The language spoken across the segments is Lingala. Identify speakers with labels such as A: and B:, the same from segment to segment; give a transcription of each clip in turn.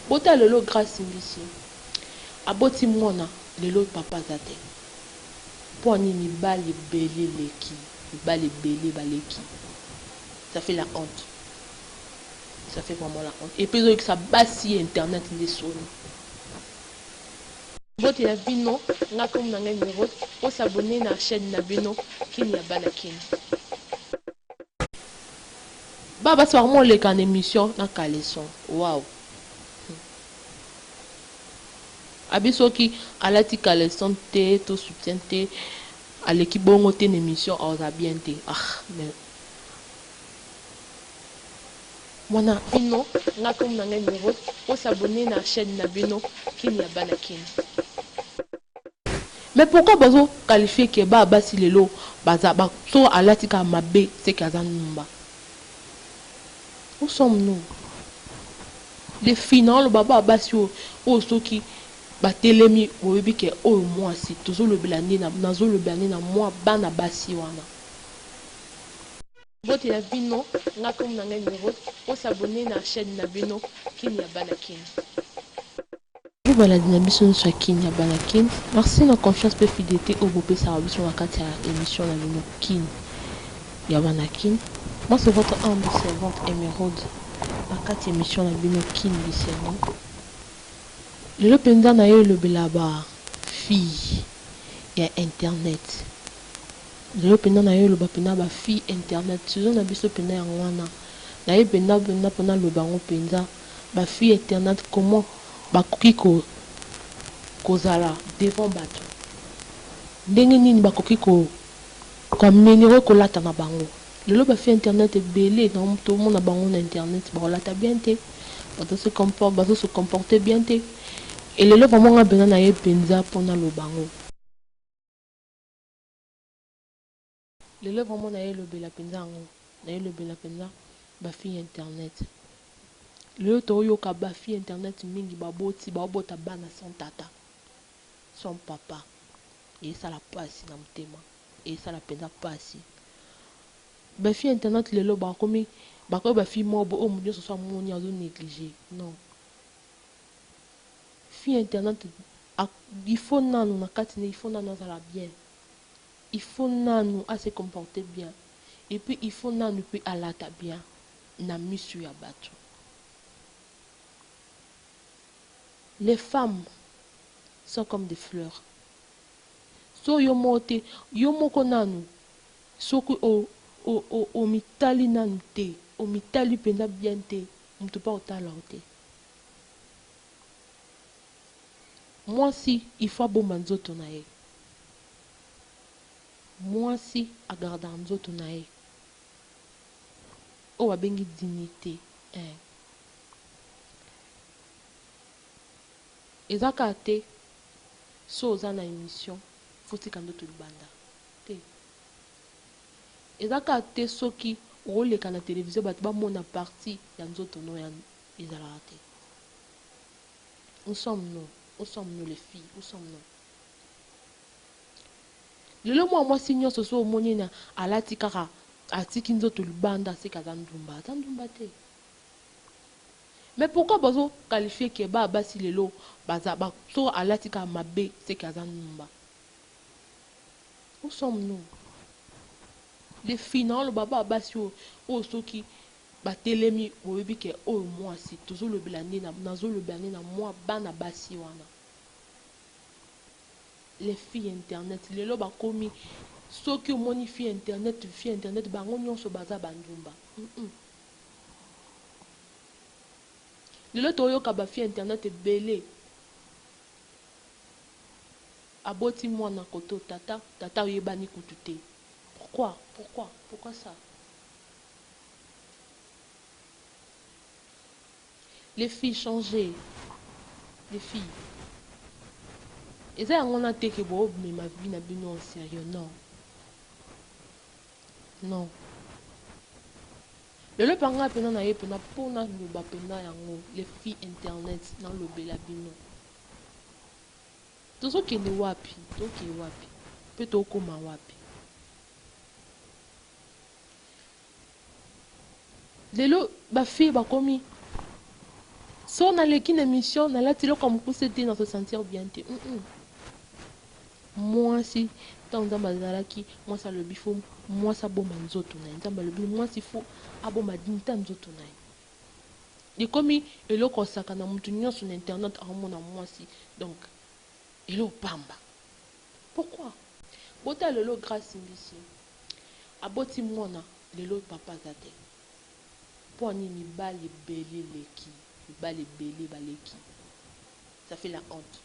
A: Bota lelo grace mbiso aboti muana lelo papa aza te pwani mibali ebele eleki mibali ebele baleki ça fait la honte ça fait vraiment la honte epuis ezoyokisa basi ya internet nde soni. Mbote na bino nga kombo na ngai Miros po s'abonner na chaine na bino kin ya bana kin. Ba basi bakoma koleka na emission na caleçon wow hum abi soki alati caleçon te to soutien te aleki bongo te na emission aza bien te ah mais mwana bino nga comme na ngai Miro po s'abonner na chaîne na bino kin ya bana kin. Mais pourquoi bazo qualifier que ba basi lelo baza ba soki alati kaka mabe ce que aza ndumba? Où sommes nous? Les filles nao loba ba basi oyo oyo soki ba telemi boyebi que oyo muasi tozo lobela nde nazo lobela nde na mua bana basi wana. Mbote na bino nga kombo na ngai Merose bo s'abonner na chaine na bino kin ya bana kin. Vive baladi na biso nionso ya kin ya bana kin merci na confiance pe fidelite oyo bopesaka biso na kati ya emission na bino kin ya bana kin moi c'est votre humble servante Emeraude na kati ya emission na bino kin bisengo lelo penza naye elobela ba fille ya internet. Nayo penda nayo loba penda ba fille internet suzo na biso penda yango wana nayo penda penda pona loba yango penza ba fille internet comment ba koki ko kozala devant batu ndenge nini ba koki ko ko ameliorer ko lata na bango lelo ba fille internet ebele na to mona bango na internet ba lata bien te bazo se comporte bazo se comporter bien te et lelo vraiment nga penda nayo penza pona loba yango Lelo vraiment nayo elobela penza yango nayo elobela penza ba fille ya internet lelo too yoka ba fille ya internet mingi ba boti bao bota bana sans tata sans papa esala pasi na motema esala penza pasi ba fille ya internet lelo ba komi ba komi ba fille moko bo oyo moto nionso so amoni azo negliger non Fille internaute a il faut nanu na kati na ye il faut nanu azala bien il faut nanu a se comporter bien et puis il faut nanu pe alata bien na misu ya batu les femmes sont comme des fleurs so yo moko te yo moko nanu soki o o o omitali nanu te omitali penza bien te mutu pe akotala yo te. Mwasi il faut abomba nzoto na ye mwasi a gardaka nzoto na ye oyo babengi dignite eeh eza kaka te soki oza na emission il faut otika ndoto libanda te eza kaka te soki okoleka na television batu bamona partie ya nzoto no ya Ezalaka te où sommes nous où sommes nous les filles où sommes nous lelo mwa mwasi nyonso so omoni ena alati kaka atiki nzoto libanda aseki aza ndumba aza ndumba te mais pourquoi bazo qualifie ke ba basi lelo baza ba, so alati kaka mabe seki aza ndumba où sommes nous les filles naoloba ba basi oyo oyo soki Ba telemi boyebi ke oyo muasi tozo lobela nde nazo lobela nde na mua bana basi wana les filles internet lelo ba komi soki omoni fille internet fille internet bango nionso baza ba ndumba humm lelo to yoka ba fille internet ebele aboti muana koto tata tata oyebani kutu te pourquoi pourquoi pourquoi ça Les filles changez les filles eza yango wana te ke bo mema vie na bino en serieux non non lelo pa nga pena na ye pena po na loba pena yango les filles internet na lobela bino tozo kende wapi toke wapi pe tokoma wapi Lelo ba fille bakomi soki naleki na emission nalati eloko ya mukuse te na se sentir bien te mm -mm. mwasi ntango nzambe azalaki mwasi alobi fo mwasi abomba nzoto na ye nzambe alobi mwasi fo abomba dignité ya nzoto na ye ekomi eloko osaka na moto nyonso na internet aomona mwasi donc eloko pamba Pourquoi? Botala lelo grace mbisi aboti mwana lelo papa aza te pua nini mibali ebele eleki mibali ebele baleki ça fait la honte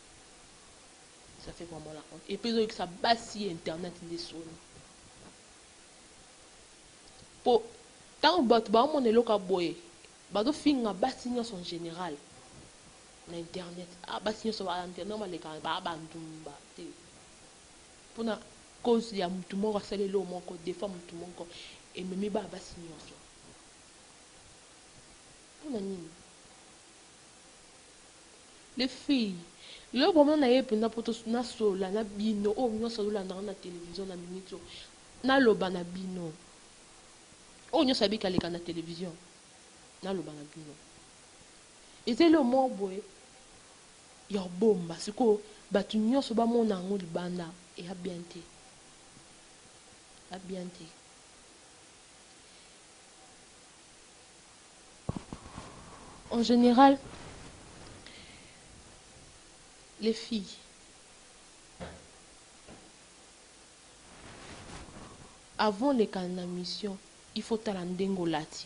A: ça fait vraiment la honte epuis ezo yokisa basi ya internet nde soni po tangu batu baomona eloko ya boye bazo finga basi nionso en general na internet ah basi nioso ba internet wana balekaka ba ba ndumba te pona cause ya mutu moko asali eloko moko defa mutu moko ememi ba basi nioso pona nini les filles lelo bomona na ye mpenza mpo nasolola na bino oyo nyonso azolandaka na televizio na miniti oyo naloba na bino oyo nyonso abikaleka na televizio naloba na bino Eza eloko moko boye ya kobomba sikoyo batu nionso bamona yango libanda ea bien te ea bien te. En general les filles avant oleka na mission il faut otala ndenge olati.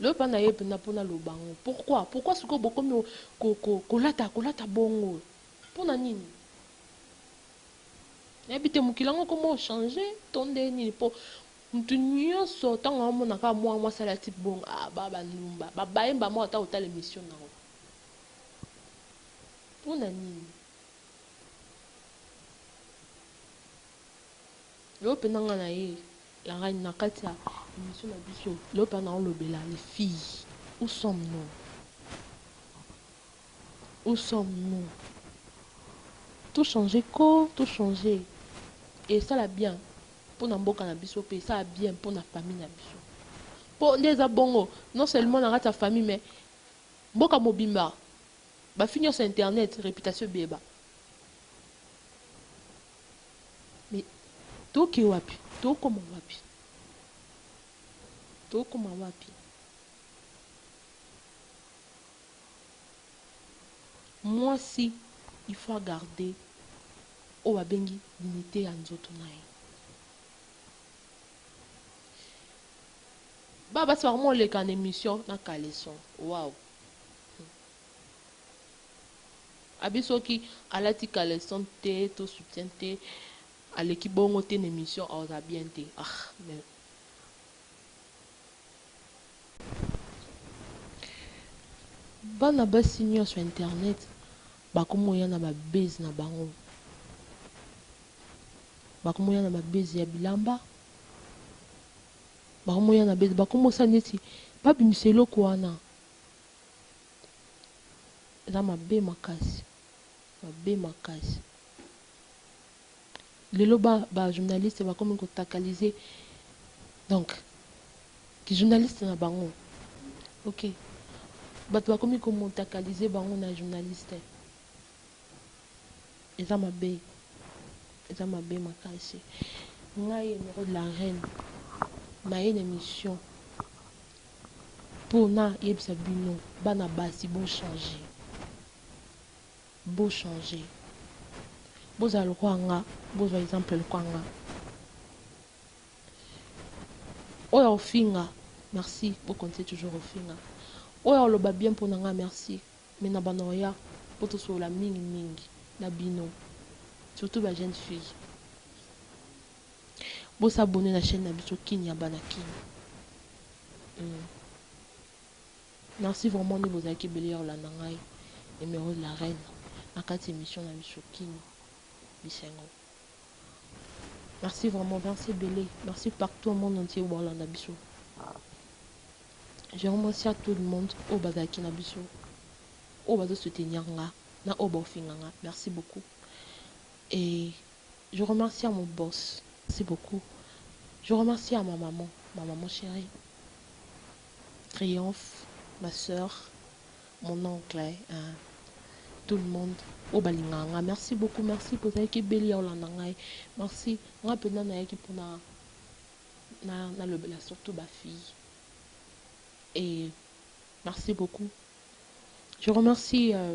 A: Loba na ye pena pona aloba yango pourquoi pourquoi sikoyo bokomi kolata kolata bongo pona nini nayebi te mokili yango koma ochange to nde nini po moto nyonso ntango amona kaka mwana mwasi alati bongo ah, ba bandumba babaye mbama ata kotala emission na yango mpo na nini yo mpenza nga na ye La reine na kati ya emission na biso loba na olobela les filles où sommes nous où sommes nous tout changer ko tout changer esala bien mpo na mboka na biso mpe esala bien mpo na famille na biso mpo nde eza bongo non seulement na kati ya famille mais mboka mobimba bafi nyonso internet reputation ebeba Mais toke wapi? Tokoma wapi? Tokoma wapi? Mwasi il faut a garder oyo babengi dignite ya nzoto na ye. Ba basi bakoma koleka na emission na caleçon. Wow! Abi soki alati caleçon te to soutien te aleki bongo te na emission aza bien te ahh mais Bana basi nionso ya internet bakomi koya na ba buzz na bango bakomi koya na ba buzz ya bilamba bakomi koya na buzz bakomi kosala neti babimisa eloko wana Eza mabe makasi mabe makasi lelo ba ba journaliste bakomi ko takalise donc ki journaliste na bango ok bato bakomi ko motakalise bango na journaliste eza mabe eza mabe makasi ngai emero de la reine naye na emission Pona yebisa bino bana basi bo change bo change bozala lokola nga bozwa exemple lokola nga oyo akofinga merci bo continue toujours kofinga oyo akoloba bien pona nga merci mais na banda oya po tosolola mingi mingi na bino surtout ba jeune fille Bo s'abonner na chaine na biso kin ya bana kin hum merci vraiment nde bozalaki ebele ya kolanda ngai numero de la reine na kati emission na biso kin bisengo merci vraiment merci ebele merci partout au monde entier bolanda biso je remercie à tout le monde oyo bazalaki na biso oyo bazo soutenir nga na oyo baofinga nga merci beaucoup et Je remercie à mon boss merci beaucoup je remercie à ma maman ma maman cherie triomphe ma soeur mon oncle hein, tout le monde oyo balingaka nga merci beaucoup merci bozalaki ebeli ya kolanda ngai merci nga mpenza nayaki mpona na nalobela surtout ba fille et merci beaucoup je remercie euh,